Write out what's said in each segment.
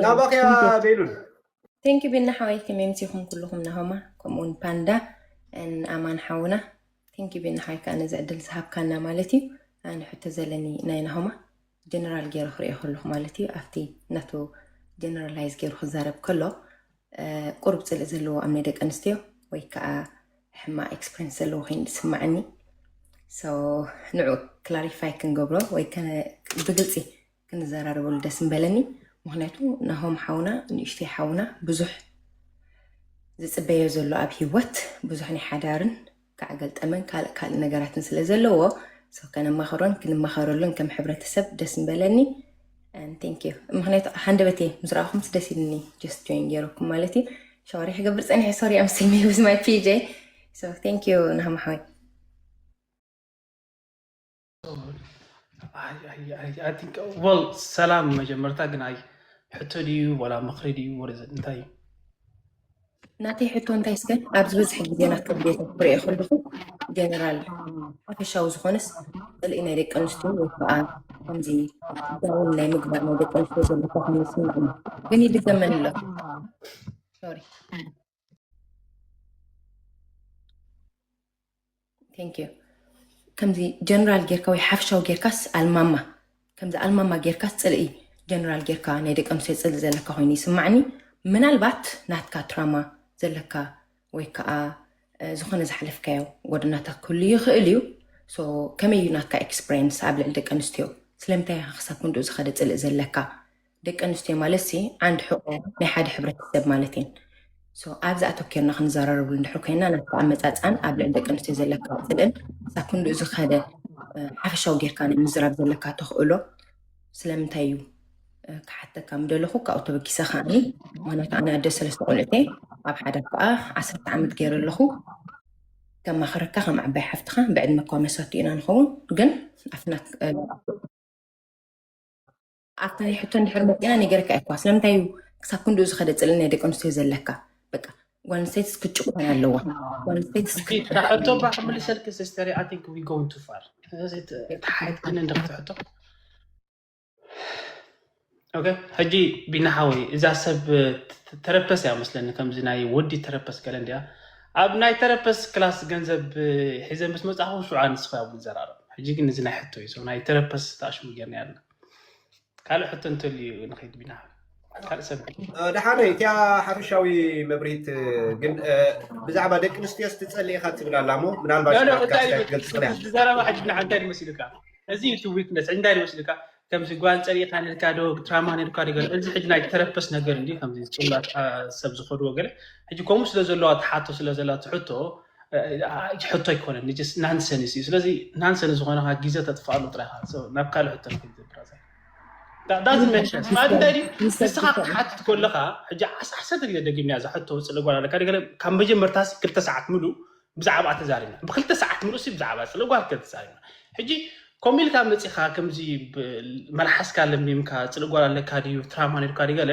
ናባኸያ ቤሉል ቴንኪ ቤና ሓወይ ከመምቲ ይኹን ኩልኹም ናሆማ ከምኡውን ፓንዳ ኣማን ሓውና ቴንኪ ቤና ሓወይ ከዓ ነዚ ዕድል ዝሃብካና ማለት እዩ ኣነ ሕቶ ዘለኒ ናይ ናሆማ ጀነራል ገይሩ ክሪኦ ከለኹ ማለት እዩ ኣብቲ ናቱ ጀነራላይዝ ገይሩ ክዛረብ ከሎ ቁሩብ ጽልኢ ዘለዎ ኣብ ናይ ደቂ ኣንስትዮ ወይ ከዓ ሕማቅ ኤክስፐሪንስ ዘለዎ ኮይኑ ዝስማዓኒ ንዑ ክላሪፋይ ክንገብሮ ወይ ብግልፂ ክንዘራረበሉ ደስ ምበለኒ ምክንያቱ ናሆም ሓውና ንእሽተይ ሓውና ብዙሕ ዝፅበዮ ዘሎ ኣብ ሂወት ብዙሕ ናይ ሓዳርን ክዓ ገልጠመን ካልእ ካልእ ነገራትን ስለ ዘለዎ so ከነማኽሮን ክንማኸረሉን ከም ሕብረተሰብ ደስ ምበለኒ and thank you ምክንያቱ ሃንደበተይ ምስ ረኣኹምስ ደስ ኢልኒ just join ገይረኩም ማለት እዩ ሻወሪ ክገብር ፀኒሐ ሶሪ I'm still me with my PJ so thank you ናህም ሓወይ ሰላም መጀመርታ ግን ኣይ ሕቶ ድዩ ወላ ምክሪ ድዩ ወደዘ እንታይ እዩ ናተይ ሕቶ እንታይ ስከ ኣብ ዝበዝሐ ግዜ ናተ ቤት ክሪኦ ከለኹ ጀነራል ሓፈሻዊ ዝኾነስ ፅልኢ ናይ ደቂ ኣንስትዮ ወይ ከዓ ከምዚ ዳውን ናይ ምግባር ናይ ደቂ ኣንስትዮ ዘለካ ኮይኑ ይስምዕኒ ግን ይድገመኒ ኣሎ ቴንኪዩ ከምዚ ጀነራል ጌርካ ወይ ሓፍሻዊ ጌርካስ ኣልማማ ከምዚ ኣልማማ ጌርካስ ፅልኢ ጀነራል ጌርካ ናይ ደቂ ኣንስትዮ ፅልኢ ዘለካ ኮይኑ ይስማዕኒ ምናልባት ናትካ ትራማ ዘለካ ወይ ከዓ ዝኾነ ዝሓለፍካዮ ጎደናታት ክህሉ ይኽእል እዩ ከመይ እዩ ናትካ ኤክስፕሬንስ ኣብ ልዕሊ ደቂ ኣንስትዮ ስለምንታይ ኢኻ ክሳብ ክንድኡ ዝኸደ ፅልኢ ዘለካ ደቂ ኣንስትዮ ማለት ሲ ዓንድ ሕቆ ናይ ሓደ ሕብረተሰብ ማለት እየን። ሶ ኣብዚ ኣተኪርና ክንዘራረብሉ እንድሕር ኮይና ናብቲ ኣመፃፅኣን ኣብ ልዕሊ ደቂ ኣንስትዮ ዘለካ ፅልእን ክሳብ ክንድኡ ዝኸደ እ፣ ሓፈሻዊ ጌርካ ናይ ምዝራብ ዘለካ ተኽእሎ ስለምንታይ እዩ እ፣ ክሓተካ ምደለኹ ካብኡ ተበጊሰ ከዓኒ ምክንያቱ ኣነ ኣደ ሰለስተ ቆልዑት እየ ኣብ ሓዳር ከዓ ዓሰርተ ዓመት ገይረ ኣለኹ ከማኽረካ ከም ዓባይ ሓፍትኻ ብዕድመ እኳ መሳቱ ኢና ንኸውን ግን ኣብቲ ናት- እ፣ ኣብታ ሕቶ እንድሕር መፂና ነገርካ እኳ ስለምንታይ እዩ ክሳብ ክንድኡ ዝኸደ ፅልኢ ናይ ደቂ ኣንስትዮ ዘለካ በቃ ጓል ኣንስተይትስ ክትጭቆን ኣለዋ ጓል ኣንስተይትስ እታ ክት- ሕቶ እባ ክምልሰልኪ ሲስተር ኣይ ቲንክ ዊ ጎን ቱ ፋር ተሓየት ግን እንድሕቲ ሕቶ ኦኬ ሕጂ ቢና ሓወይ እዛ ሰብ ተ- ተረፐስ እያ መስለኒ ከምዚ ናይ ወዲ ተረፐስ ገለ እንዲያ ኣብ ናይ ተረፐስ ክላስ ገንዘብ እ፣ ሒዘ ምስ መፅእኹ ሽዑ ኣንስኻ እውን ዘራርብ ሕጂ ግን እዚ ናይ ሕቶ እዩ ሰው ናይ ተረፐስ ተኣሽሙ ጌርና ኣለና ካልእ ሕቶ እንተልዩ ንኸይድ ቢና ካልእ ሰብ ደሓነ እቲያ ሓፈሻዊ መብርሂት ግን ብዛዕባ ደቂ ኣንስትዮ ስትፀልእ ኢኻ ትብል ኣላ እሞ ምናልባት ትገልፅ ኽእል ዘረባ ሕጂ ንዓ እንታይ ይመስልካ እዚ እዩ እቲ ዊክነስ እንታይ ይመስልካ ከምዚ ጓል ፀሪእኻ ነልካ ዶ ትራማ ነልካ ዶ ገለ እዚ ሕጂ ናይ ተረፐስ ነገር እንዲ ከምዚ ፅላት ሰብ ዝኸድዎ ገለ ሕጂ ከምኡ ስለ ዘለዋ ትሓቶ ስለ ዘላ ትሕቶ ሕቶ ኣይኮነን ስ ናንሰንስ እዩ ስለዚ ናንሰን ዝኾነካ ግዜ ተጥፍኣሉ ጥራይካ ናብ ካልእ ሕቶ ንስኻ ክትሓትት ከለካ ሕጂ ዓሰርተ ግዜ ደጊምያ እዛ ሕቶ ውፅእ ለጓል ኣለካ ገለ ካብ መጀመርታ ክልተ ሰዓት ምሉ ብዛዕባ ተዛሪብና ብክልተ ሰዓት ምሉ ብዛዕባ ፅለጓል ከተዛሪብና ሕጂ ከምኡ ኢልካ መፂኻ ከምዚ መልሓስካ ለሚምካ ፅልጓል ኣለካ ድዩ ትራማ ነርካ ድዩ ገለ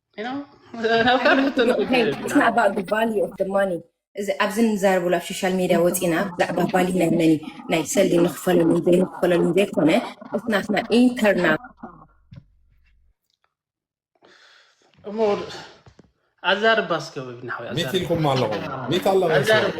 you know እዚ ኣብዚ ንዛረብሉ ኣብ ሶሻል ሚድያ ወፂና ብዛዕባ ባሊ ናይ መን እዩ ናይ ሰልዲ ንክፈለሉን ዘይንክፈለሉን ዘይኮነ እቲ ናትና ኢንተርናል እሞ ኣዛርባ እስከ ወይብናሓወይ ሚት ኢልኩም ኣለኹም ሚት ኣለኹም ኣዛርባ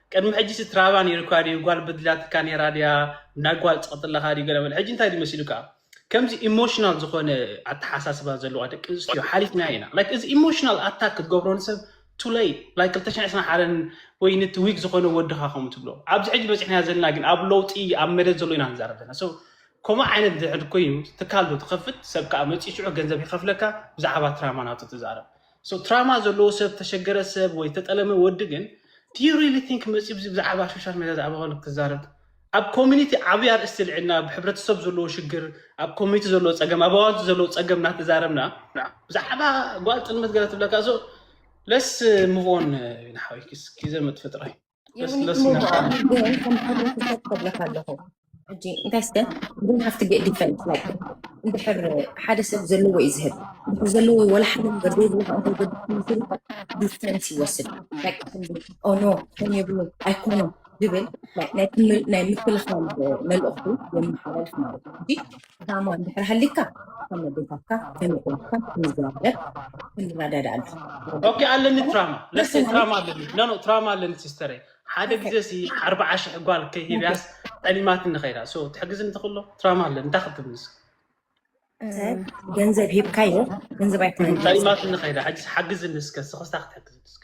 ቅድሚ ሕጂሲ ትራባ ኔሩካ ድዩ ጓል በዲላትካ ኔራ ድያ እንዳ ጓል ጸቕጥለኻ ድዩ ገለ በል ሕጂ እንታይ ድዩ መሲሉካ ከምዚ ኢሞሽናል ዝኾነ ኣተሓሳስባ ዘለዋ ደቂ ኣንስትዮ ሓሊፍና ኢና ላይክ እዚ ኢሞሽናል ኣታክ ክትገብሮ ንሰብ ቱለይ ላይክ 221 ወይ ንቲ ዊክ ዝኾነ ወድኻ ከምኡ ትብሎ ኣብዚ ሕጂ በፂሕና ዘለና ግን ኣብ ለውጢ ኣብ መደት ዘሎ ኢና ንዛረብ ዘለና ሰው ከምኡ ዓይነት ድሕር ኮይኑ ትካል ዶ ትኸፍት ሰብ ከዓ መፂኡ ሽዑ ገንዘብ ይኸፍለካ ብዛዕባ ትራማናቱ ትዛረብ So ትራማ ዘለዎ ሰብ ተሸገረ ሰብ ወይ ተጠለመ ወዲ ግን do you really think መጽዩ ብዚ ብዛዕባ ሾሻል ሜድያ ዛዕባ ኮነ ክዛረብ ኣብ ኮሚኒቲ ዓብይ ኣርእስቲ ኣልዒልና ኣብ ሕብረተሰብ ዘለዎ ሽግር ኣብ ኮሚኒቲ ዘለዎ ጸገም ኣብ ኣዋልድ ዘለዎ ጸገም እናተዛረብና ብዛዕባ ጓል ጥልመት ገለ ትብለካ so let's move on ንሓወይ ኪዘ መጥፍጥራይ ለስለስ ኢላ ሕጂ እንታይ ስተ ግን ሃፍቲ ጌት ዲፈንስ እንድሕር ሓደ ሰብ ዘለዎ እዩ ዝህብ እንድሕር ዘለዎ ወላ ሓደ ነገር ዘይብሉ ከዓ እንተዘድክምስል ዲስተንስ ይወስድ በቃ ከምዚ ኦኖ ከም የብሉ ኣይኮኖ ዝብል ናይ ክምል- ናይ ምክልኻል መልእኽቱ የመሓላልፍ ማለት እዩ ሕጂ ዕላማ እንድሕር ሃሊካ ከም ኣዴታትካ ከም ኣሕዋትካ ክንዘራረብ ክንረዳዳእ ኣለካ ኦኬ ኣለኒ ትራማ ለሴ ትራማ ኣለኒ ኖ ኖ ትራማ ኣለኒ ሲስተረይ ሓደ ግዜ ሲ ኣርብዓ ሽሕ ጓል ከይሂብያስ ጠሊማትኒ ከይዳ ሶ ትሕግዝኒ ትኽእሎ ትራማ ኣለኒ እንታይ ክትብልስ ሰብ ገንዘብ ሂብካዮ ገንዘብ ኣይኮነን ጠሊማትኒ ከይዳ ሕጂስ ሓግዝኒ እስከ ስኽስታ ክትሕግዝኒ እስከ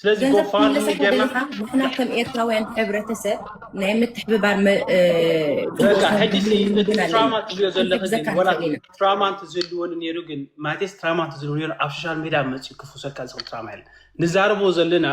ስለዚ ገንዘብ ጎፋንሚ ክምለሰካ ጌርና ደሊኻ ንሕና ከም ኤርትራውያን ሕብረተሰብ ናይ ምትሕብባር መ- እ፣ በቃ ጽቡቕ ሕጂ ሲ ባህልን እቲ ልምድን ኣለና ትራማ እትብዮ ዘለኺ ግን ክንሕግዘካ ወላ ንኽእል ኢና ትራማ እንትዝህልወኒ ነይሩ ግን ማቴስ ትራማ እንትዝህልዎ ነይሩ ኣብ ሶሻል ሜድያ መፅኡ ክፍውሰልካ ዝኽእል ትራማ የለን ንዛረቦ ዘለና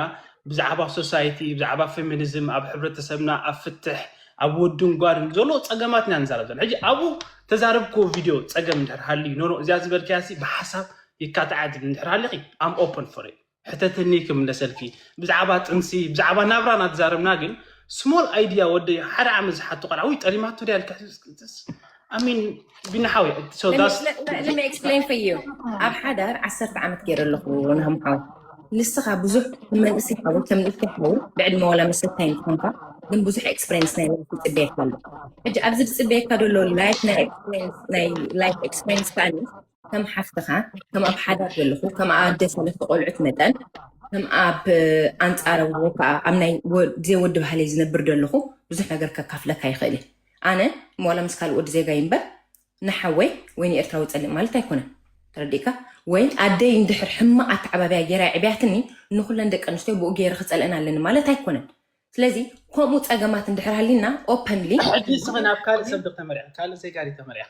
ብዛዕባ ሶሳይቲ ብዛዕባ ፌሚኒዝም ኣብ ሕብረተሰብና ኣብ ፍትሕ ኣብ ወድን ጓልን ዘሎ ፀገማት ኢና ንዛረብ ዘለና ሕጂ ኣብኡ ተዛረብክዎ ቪድዮ ፀገም እንድሕር ሃልዩ ኖኖ እዚኣ ዝበልክያሲ ብሓሳብ ይካትዓት እንድሕር ሃለኺ ኣም ኦፕን ፎር ሕተትኒ ክምለሰልኪ ብዛዕባ ጥንሲ ብዛዕባ ናብራ ናትዛረብና ግን ስሞል ኣይድያ ወደይ ሓደ ዓመት ዝሓቶ ቆልዓ ውይ ጠሊማቶ ድያ ኣሚን ቢናሓዊ ኣብ ሓዳር ዓሰርተ ዓመት ገይረ ኣለኹ ናምሓው ንስኻ ብዙሕ መንእስ ይሓው ከም ልፍ ይሓው ብዕድመ ዋላ መሰታይ ንኮንካ ግን ብዙሕ ኤክስፐሪንስ ናይ ላይፍ ይፅበየካ ኣሎ ሕጂ ኣብዚ ዝፅበየካ ዘሎ ላይፍ ናይ ኤክስፐሪንስ ናይ ላይፍ ኤክስፐሪንስ ከዓኒ ከም ሓፍትኻ ከም ኣብ ሓዳር ዘለኹ ከም ኣደ ሰለስተ ቆልዑት መጠን ከም ኣብ ኣንፃረ ወይ ከዓ ኣብ ናይ ወ- ዘይ ወዲ ባህለይ ዝነብር ዘለኹ ብዙሕ ነገር ከካፍለካ ይኽእል እዩ ኣነ ዋላ ምስ ካልእ ወዲ ዜጋ ይንበር ንሓወይ ወይ ንኤርትራዊ ፀልእ ማለት ኣይኮነን ተረዲእካ ወይ ኣደይ እንድሕር ሕማቕ ኣተዓባብያ ገይራ ዕብያትኒ ንኩለን ደቂ ኣንስትዮ ብኡ ገይረ ክፀልአን ኣለኒ ማለት ኣይኮነን ስለዚ ከምኡ ፀገማት እንድሕር ሃሊና ኦፐንሊ ሕጂ ንስኺ ናብ ካልእ ሰብ ዶ ተመሪዕኺ ካልእ ዜጋ ዶ ተመሪዕኺ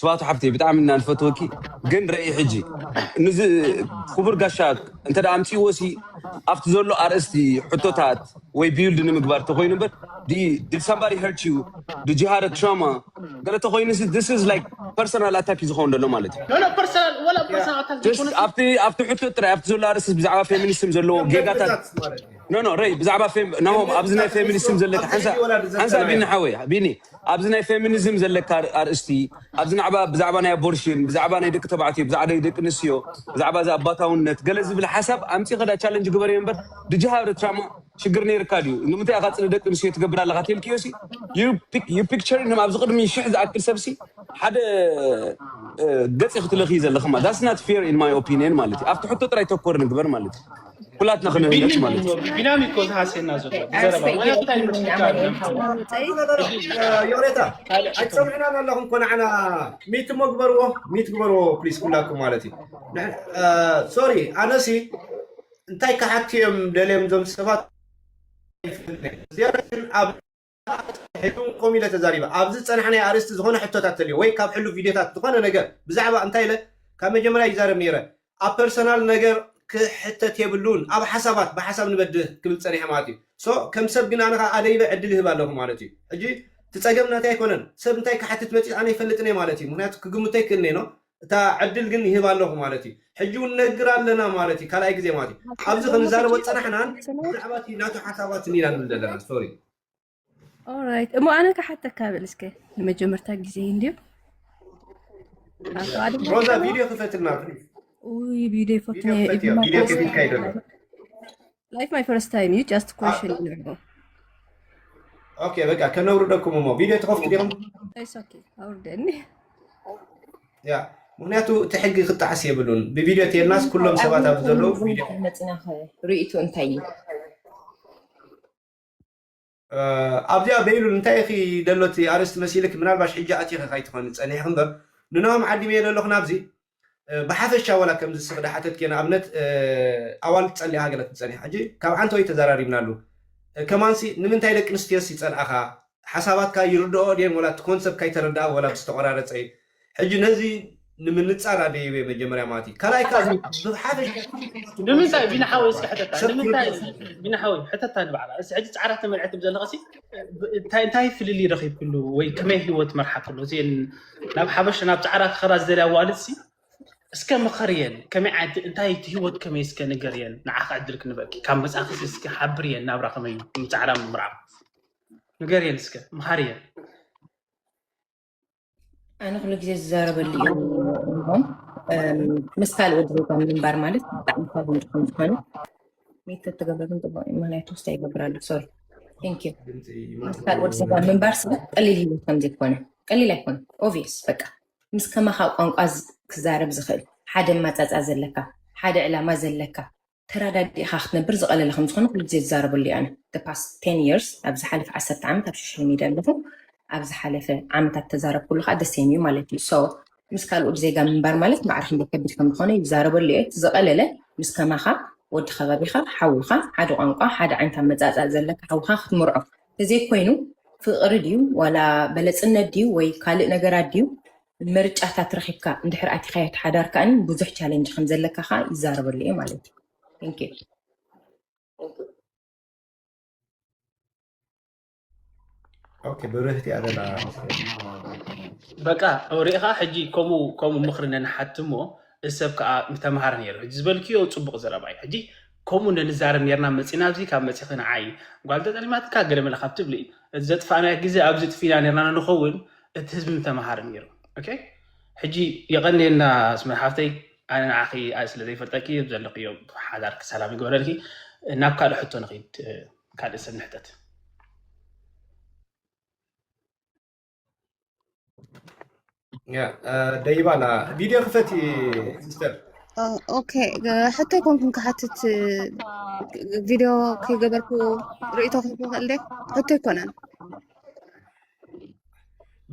ስብኣቱ ሓፍተይ ብጣዕሚ እና ንፈትወኪ ግን ረኢ ሕጂ ንዚ ክቡር ጋሻ እንተ ኣምፅዎ ሲ ኣብቲ ዘሎ ኣርእስቲ ሕቶታት ወይ ቢውልድ ንምግባር ተኮይኑ እምበር ዲድ ሳምባዲ ሄርት ዩ ዲድ ዩ ሃደ ትራማ ገለ ተኮይኑ ሲ ዲስ ኢዝ ላይክ ፐርሰናል ኣታክ ዩ ዝኸውን ዘሎ ማለት ዩ ኣብቲ ሕቶ ጥራይ ኣብቲ ዘሎ ኣርእስቲ ብዛዕባ ፌሚኒስም ዘለዎ ጌጋታት ኖ ኖ ረይ ብዛዕባ ናሆም ኣብዚ ናይ ፌሚኒስም ዘለካ ሓንሳ ሓንሳ ቢኒ ሓወይ ቢኒ ኣብዚ ናይ ፌሚኒዝም ዘለካ ኣርእስቲ ኣብዚ ናዕባ ብዛዕባ ናይ ኣቦርሽን ብዛዕባ ናይ ደቂ ተባዕትዮ ብዛዕባ ናይ ደቂ ኣንስትዮ ብዛዕባ እዚ ኣባታውነት ገለ ዝብል ሓሳብ ኣምጺኺ ዳ ቻለንጅ ግበርዮ እምበር ድጅሃ እርትራማ ሽግር ነይርካ ድዩ ንምንታይ ኢኻ ጽን ደቂ ኣንስትዮ ትገብር ኣለኻ ተልክዮሲ ዩ ፒክቸር ንም ኣብዚ ቅድሚ ሽሕ ዝኣክል ሰብሲ ሓደ ገጽ ኢኺ ትለኽዪ ዘለኺ ማለት ዳትስ ናት ፌር ኢን ማይ ኦፒንየን ማለት እዩ ኣብቲ ሕቶ ጥራይ ተኮር ንግበር ማለት እዩ ኩላትና ክንህነፅ ማለት እዩ ቢናም እኮ ዝሃስየና ዘሎ ብዘረባ ወላ እንታይ ምትፍካ ዮሬታ ኣይትሰምዕናን ኣለኹም እኮ ንዓና ሚት እሞ ግበርዎ ሚት ግበርዎ ፕሊስ ኩላኩም ማለት እዩ ሶሪ ኣነሲ እንታይ ክሓቱ እዮም ደልዮም ዞም ሰባት ዝያዳ ግን ኣብ ኣስራሒቱ ከምኡ ኢለ ተዛሪበ። ኣብዚ ዝጸናሕናዮ ኣርእስቲ ዝኾነ ሕቶታት ተልዮ ወይ ካብ ሕሉፍ ቪድዮታት ዝኾነ ነገር ብዛዕባ እንታይ ኢለ ካብ መጀመርያ ይዛረብ ኔረ ኣብ ፐርሰናል ነገር ክሕተት የብሉን ኣብ ሓሳባት ብሓሳብ ንበድህ ክብል ጸኒሐ ማለት እዩ so ከም ሰብ ግን ኣነ ከኣ ኣደይበ ዕድል ይህብ ኣለኹ ማለት እዩ ሕጂ እቲ ጸገም ናተይ ኣይኮነን ሰብ እንታይ ክሓትት መጺኡ ኣነ ኣይፈልጥን እየ ማለት እዩ ምኽንያቱ ክግምቶ ኣይክእልን እየ no እታ ዕድል ግን ይህብ ኣለኹ ማለት እዩ። ሕጂ እውን ነግር ኣለና ማለት እዩ፣ ካልኣይ ግዜ ማለት እዩ። ኣብዚ ክንዛረቦ ዝጸናሕናን ብዛዕባ እቲ ናቱ ሓሳባትን ኢና ንብል ዘለና። ሶሪ ኦራይት እሞ ኣነ ክሓተካ በል እስከ ንመጀመርታ ግዜ እንድዩ ካብኡ ኣድማ ሮዛ ቪድዮ ክፈትልና ፕሊዝ። ውይ ቪድዮ ቪድዮ ፈትነ ክፈትዮ ቪድዮ ከፊትካ ይደሎ ላይክ ማይ ፈርስት ታይም እዩ ጃስት ኮሽን ንዕቦ ኦኬ በቃ ከነውርደኩም እሞ ቪድዮ ትኸፍቱ ዲኹም ኢትስ ኦኬ ኣውርደኒ ያ ምክንያቱ እቲ ሕጊ ክጣዓስ የብሉን ብቪድዮ ተየልናስ ኩሎም ሰባት ኣብ ዘለዉ ቪድዮ መፅና ርእቶ እንታይ እዩ ኣብዚኣ በይሉል እንታይ ኢኺ ደሎቲ ኣርእስቲ መሲልኪ ምናልባሽ ሕጂ ኣቲኺ ካይትኾኒ ጸኒሕኺ እምበር ንኖሆም ዓዲመዮ ደለኹ ናብዚ ብሓፈሻ ወላ ከምዚ ስኺ ዳሓተትኪዮ ንኣብነት ኣዋልድ ጸሊእኻ ገለ ክትጸኒሕ ሕጂ ካብ ዓንተወይ ተዛራሪብናሉ ከማንሲ ንምንታይ ደቂ ኣንስትዮስ ይጸልኣኻ ሓሳባትካ ይርድኦኦ ድየን ወላ እቲ ኮንሰፕት ካይተረድኣ ወላ ብዝተቖራረጸ እዩ ሕጂ ነዚ ንምንጻር ኣደ ይበ መጀመርያ ማለት እዩ ካልኣይ ከ ንምንታይ ቢኒ ሓወይ እስኪ ሕተታ ንምንታይ ቢኒ ሓወይ ሕተታ ንባዕላ እዚ ሕጂ ጻዕራ ተመልዐት ዘለኸሲ እንታይ ፍልልይ ረኺብክሉ ወይ ከመይ ህይወት መርሓ ከሎ እዚን ናብ ሓበሽ ናብ ጻዕራ ክኸዳ ዝደልያ ዋልሲ እስከ ምኸርየን ከመይ ዓይነት እንታይ እቲ ህይወት ከመይ እስከ ንገርየን ንዓኸ ዕድል ክንበኪ ካብ መጽኣክሲ እስከ ሓብርየን ናብራ ከመይ ጻዕራ ምምርዓብ ንገርየን እስከ ምሃርየን ኣነ ኩሉ ግዜ ዝዛረበሉ እዩ ምስ ካልእ ወዲ ዜጋ ምንባር ማለት ብጣዕሚ ካብ ንድኩም ዝኮነ ሜት ተተገበርን ጥቡቅ እዩ ምክንያቱ ውስታ ይገብራሉ ሶሪ ቴንክ ዩ ምስ ካልእ ወዲ ዜጋ ምንባር ስለ ቀሊል ሂወት ከም ዘይኮነ ቀሊል ኣይኮነ ኦቪየስ በቃ ምስ ከማካ ቋንቋ ዝ- ክዛረብ ዝኽእል ሓደ ማፃፃ ዘለካ ሓደ ዕላማ ዘለካ ተራዳዲእኻ ክትነብር ዝቐለለ ከም ዝኾነ ኩሉ ግዜ ዝዛረበሉ እዩ ኣነ the past ten years ኣብ ዝሓለፈ ዓሰርተ ዓመት ኣብ ሶሻል ሚድያ ኣለኹ ኣብ ዝሓለፈ ዓመታት ተዛረብኩሉ ከዓ the same እዩ ማለት እዩ so ምስ ካልኦት ዜጋ ምንባር ማለት ማዕረ ክንደይ ከቢድ ከም ዝኾነ እዩ ዝዛረበሉ እየ እቲ ዝቐለለ ምስ ከማኻ ወዲ ከባቢኻ ሓውኻ ሓደ ቋንቋ ሓደ ዓይነት ኣመፃፅኣ ዘለካ ሓውኻ ክትምርዖ ተዘይኮይኑ ፍቕሪ ድዩ ዋላ በለፅነት ድዩ ወይ ካልእ ነገራት ድዩ ምርጫታት ረኺብካ እንድሕር ኣቲኻዮ እቲ ሓዳር ከኣ ብዙሕ ቻለንጅ ከም ዘለካ ከኣ ይዛረበሉ እየ ማለት እዩ Thank you. ኦኬ ብርህቲ እያ ዘላ በቃ ሪኢኻ ሕጂ ከምኡ ከምኡ ምኽሪ ነንሓቲ እሞ እዚ ሰብ ከዓ ተምሃር ነይሩ ሕጂ ዝበልክዮ ፅቡቅ ዘረባ እዩ ሕጂ ከምኡ ነንዛረብ ነርና መፂና ኣብዚ ካብ መፂኺ ንዓይ ጓል ተጠሊማትካ ገለ መለ ካብ ትብሊ እቲ ዘጥፋእናዮ ግዜ ኣብዚ ጥፊና ነርና ንኸውን እቲ ህዝቢ ምተምሃረ ነይሩ ኦኬ ሕጂ የቐንየልና ኣስመር ሓፍተይ ኣነ ንዓኺ ኣይ ስለ ዘይፈልጠኪ ዘለኽዮ ሓዳርኪ ሰላም ይግበረልኪ ናብ ካልእ ሕቶ ንኺድ ካልእ ሰብ ንሕተት ደይባ ኣላ ቪድዮ ክፈቲ ሲስተር ኦኬ ሕቶ ኮንኩም ክሓትት ቪድዮ ከይገበርኩ ርእቶ ክንክእል ደ ሕቶ ኣይኮነን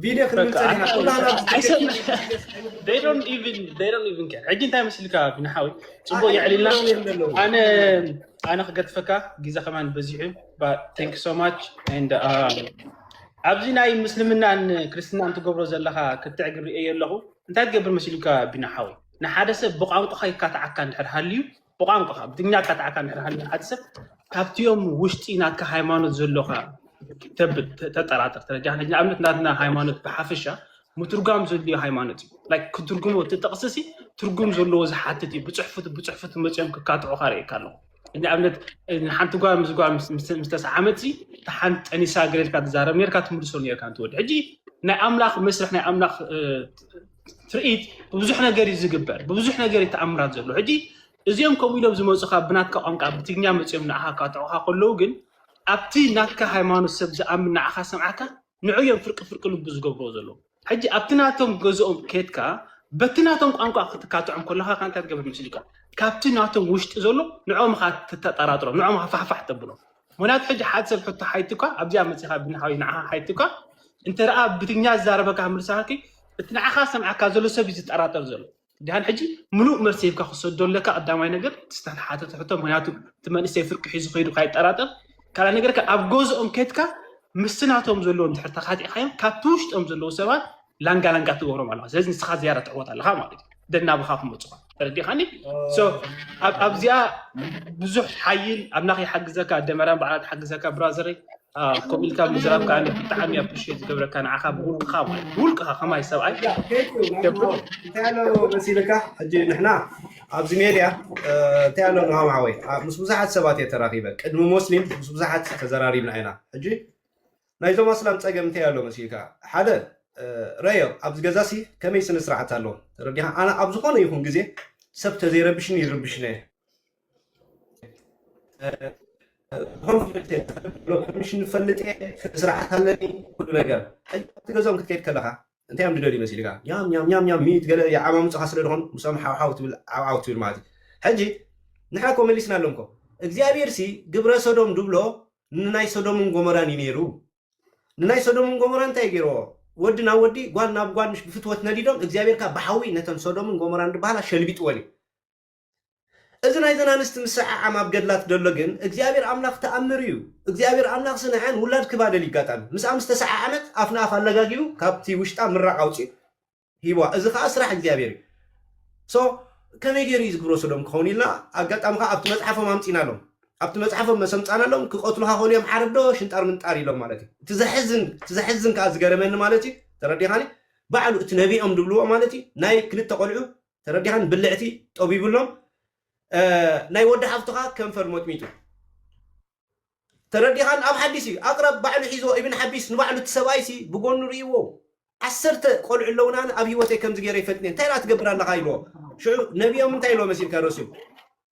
ቪድዮ ክንብል ፀኒሕና ኩላና ሕጂ እንታይ መስልካ ቢና ሓዊ ፅቡቅ የዕሊልና ኣነ ኣነ ክገድፈካ ግዜ ከማን በዚሑ ቴንክ ሶ ማች ኣብዚ ናይ ምስልምናን ክርስትና እንትገብሮ ዘለካ ክትዕ ግብሪ እየ ኣለኹ እንታይ ትገብር መሲሉካ ቢና ሓዊ ንሓደ ሰብ ብቋንቋካ ይካትዓካ እንድሕር ሃልዩ ብቋንቋኻ ብትግርኛ ቀጣዕካ እንድሕር ሃልዩ ሓደ ሰብ ካብቲኦም ውሽጢ ናትካ ሃይማኖት ዘሎካ ተብል ተጠራጥር ተረጃ ንኣብነት ናትና ሃይማኖት ብሓፈሻ ምትርጓም ዘድልዮ ሃይማኖት እዩ ላይክ ክትርጉሞ እቲ ጥቕሲ ሲ ትርጉም ዘለዎ ዝሓትት እዩ ብፅሑፍት ብፅሑፍት መፅኦም ክካትዑካ ርእየካ ኣለኹ ንኣብነት ንሓንቲ ጓል ምስ ጓል ምስ ተሰዓመት ሲ እቲ ሓንቲ ጠኒሳ ገለ ኢልካ ትዛረብ ነርካ ትምልሶ ነርካ እንትወዲ ሕጂ ናይ ኣምላኽ መስርሕ ናይ ኣምላኽ ትርኢት ብብዙሕ ነገር እዩ ዝግበር ብብዙሕ ነገር እዩ ተኣምራት ዘሎ ሕጂ እዚኦም ከምኡ ኢሎም ዝመፁካ ብናትካ ቋንቋ ብትግኛ መፅኦም ንዓኻ ካትዑኻ ከለዉ ግን ኣብቲ ናትካ ሃይማኖት ሰብ ዝኣምን ንዓኻ ሰምዓካ ንዑ እዮም ፍርቂ ፍርቂ ልቡ ዝገብርዎ ዘለዉ ሕጂ ኣብቲ ናቶም ገዝኦም ኬትካ በቲ ናቶም ቋንቋ ክትካትዖም ከለካ ከ እንታይ ትገብር ምስልካ ካብቲ ናቶም ውሽጢ ዘሎ ንዕኦም ኻ ትተጠራጥሮም ንዕኦም ኻፋሕፋሕ ተብሎም ምክንያቱ ሕጂ ሓድ ሰብ ሕቶ ሓይቱካ ኣብዚኣ መጺኻ ብንሓወይ ንዓኻ ሓይቱካ እንተ ረኣ ብትግኛ ዝዛረበካ ክምልሳካኪ እቲ ንዓኻ ሰምዓካ ዘሎ ሰብ እዩ ዝጠራጠር ዘሎ ድሓን ሕጂ ምሉእ መልሲ ሂብካ ክሰዶ ኣለካ ቀዳማይ ነገር ዝተሓተተ ሕቶ ምክንያቱ እቲ መንእሰይ ፍርቂ ሒዙ ከይዱ ካይጠራጠር ካልኣ ነገር ከ ኣብ ገዝኦም ከድካ ምስናቶም ዘለዎም ድሕር ተካቲዕካዮም ካብቲ ውሽጦም ዘለዉ ሰባት ላንጋ ላንጋ ትገብሮም ኣለካ ስለዚ ንስካ ዝያዳ ትዕወት ኣለካ ማለት እዩ ደናብካ ክመፁካ ተረዲኻኒ ኣብዚኣ ብዙሕ ሓይል ኣምላኽ ይሓግዘካ ደመራን በዓላት ሓግዘካ ብራዘረይ ከምኡ ኢልካ ምዝራብ ከዓ ብጣዕሚ ኣብ ፕሽ ዝገብረካ ንዓኻ ብውልቅኻ ማለት ብውልቅኻ ከማይ ሰብኣይ እንታይ ኣሎ መሲልካ ሕጂ ንሕና ኣብዚ ሜድያ እንታይ ኣሎ ንሃም ሓወይ ምስ ብዙሓት ሰባት እየ ተራኺበ ቅድሚ ሞስሊም ምስ ብዙሓት ተዘራሪብና ኢና ሕጂ ናይዞም ኣስላም ጸገም እንታይ ኣሎ መሲልካ ሓደ ረዮ ኣብዚ ገዛሲ ከመይ ስነ ስርዓት ኣሎ ተረዲኻ ኣነ ኣብ ዝኾነ ይኹን ግዜ ሰብ ተዘይረብሽኒ ይርብሽነ ኮሚሽን ንፈልጥ እየ ስርዓት ኣለኒ ኩሉ ነገር ሕቲ ገዛኦም ክትከይድ ከለኻ እንታይ እዮም ድደልዩ መሲልካ ያም ያም ያም ያም ሚት ገለ የዓማምፅኻ ስለ ዝኾኑ ምሶም ሓውሓው ትብል ዓውዓው ትብል ማለት እዩ ሕጂ ንሕና ኮ መሊስና ኣለምኮ እግዚኣብሔር ሲ ግብረ ሰዶም ድብሎ ንናይ ሶዶምን ጎሞራን እዩ ነይሩ ንናይ ሶዶምን ጎሞራን እንታይ እዩ ገይርዎ ወዲ ናብ ወዲ ጓል ናብ ጓል ምሽ ብፍትወት ነዲዶም እግዚኣብሔር ካብ ብሓዊ ነተን ሶዶምን ጎሞራን ድበሃላ ሸልቢጥወን እዩ እዚ ናይዘን ኣንስቲ ምስዕዓም ኣብ ገድላት ደሎ ግን እግዚኣብሔር ኣምላኽ ተኣምር እዩ እግዚኣብሔር ኣምላኽ ስንዐን ውላድ ክባደል ይጋጣሚ ምስኣ ምስ ተሰዓዓመት ኣፍ ንኣፍ ኣለጋጊቡ ካብቲ ውሽጣ ምራቕ ኣውፅኡ ሂብዋ እዚ ከኣ ስራሕ እግዚኣብሔር እዩ ሶ ከመይ ገይሩ እዩ ዝግብሮ ሶዶም ክኸውን ኢልና ኣጋጣሚ ከኣ ኣብቲ መጽሓፎም ኣምጺናሎም ኣብቲ መጽሓፎም መሰምጻናሎም ክቐትሉኻ ኮን እዮም ዓረብ ዶ ሽንጣር ምንጣር ኢሎም ማለት እዩ እቲ ዘሕዝን እቲ ዘሕዝን ከኣ ዝገረመኒ ማለት እዩ ተረዲኻኒ ባዕሉ እቲ ነቢኦም ድብልዎ ማለት እዩ ናይ ክልተ ቆልዑ ተረዲኻኒ ብልዕቲ ጠቢብሎም ናይ ወዲ ሓፍቱ ከኣ ከንፈር ሞጥሚጡ ተረዲኻን ኣብ ሓዲስ እዩ ኣቅራብ ባዕሉ ሒዝዎ ኢብን ሓቢስ ንባዕሉ እቲ ሰብኣይ ሲ ብጎኑ ሪኢዎ ዓሰርተ ቆልዑ ኣለውና ኣነ ኣብ ሂወተይ ከምዚ ገይረ ይፈልጥን እንታይ ደኣ ትገብር ኣለኻ ኢልዎ ሽዑ ነቢኦም እንታይ ኢልዎ መሲልካ ረስዩ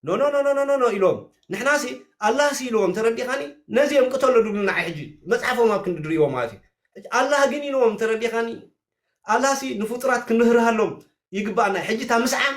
ኖኖኖኖኖኖ ኢልዎም ንሕና ሲ ኣላህ ሲ ኢልዎም ተረዲኻኒ ነዚ እዮም ቅተሎ ድብሉ ንዓይ ሕጂ መጽሓፎም ኣብ ክንዲ ድሪእዎ ማለት እዩ ኣላህ ግን ኢልዎም ተረዲኻኒ ኣላህ ሲ ንፍጡራት ክንርህርሃሎም ይግባኣና ሕጂ እታ ምስዓም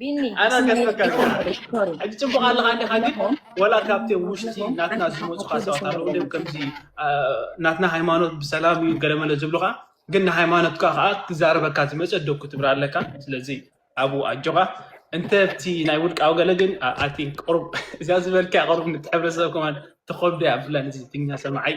ቢኒ ኣና ከስበካ ሕጂ ፅቡቅ ኣለካ እንዲካ ግን ወላ ካብቲ ውሽጢ ናትና ዝመፁካ ሰባት ኣለዉ ድም ከምዚ ናትና ሃይማኖት ብሰላም እዩ ገለመለ ዝብሉካ ግን ንሃይማኖትካ ከዓ ክዛረበካ ዝመፀ ዶ ክትብር ኣለካ ስለዚ ኣብኡ ኣጆካ እንተ ብቲ ናይ ውልቃዊ ገለ ግን ኣይ ቲንክ ቅሩብ እዚኣ ዝበልካ ቅሩብ ንሕብረተሰብ ከማን ተኸብዶ እያ ብፍላይ ንዚ ትግኛ ሰማዓይ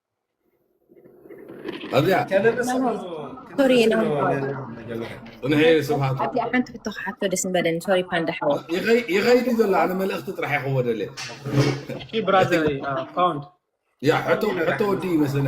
ኣብዚኣ ሶሪ ፅንሐ ስብሃቱ ኣብዚኣ ሓንቲ ሕቶ ክሓቶ ደስ ምበለኒ ሶሪ ፓንዳ ሓወ ይኸይድ እዩ ዘሎ ኣነ መልእኽቲ ጥራሕ ይኸዎ ደልየ ብራዘር ፓውንድ ያ ሕቶ ወዲ ይመስለና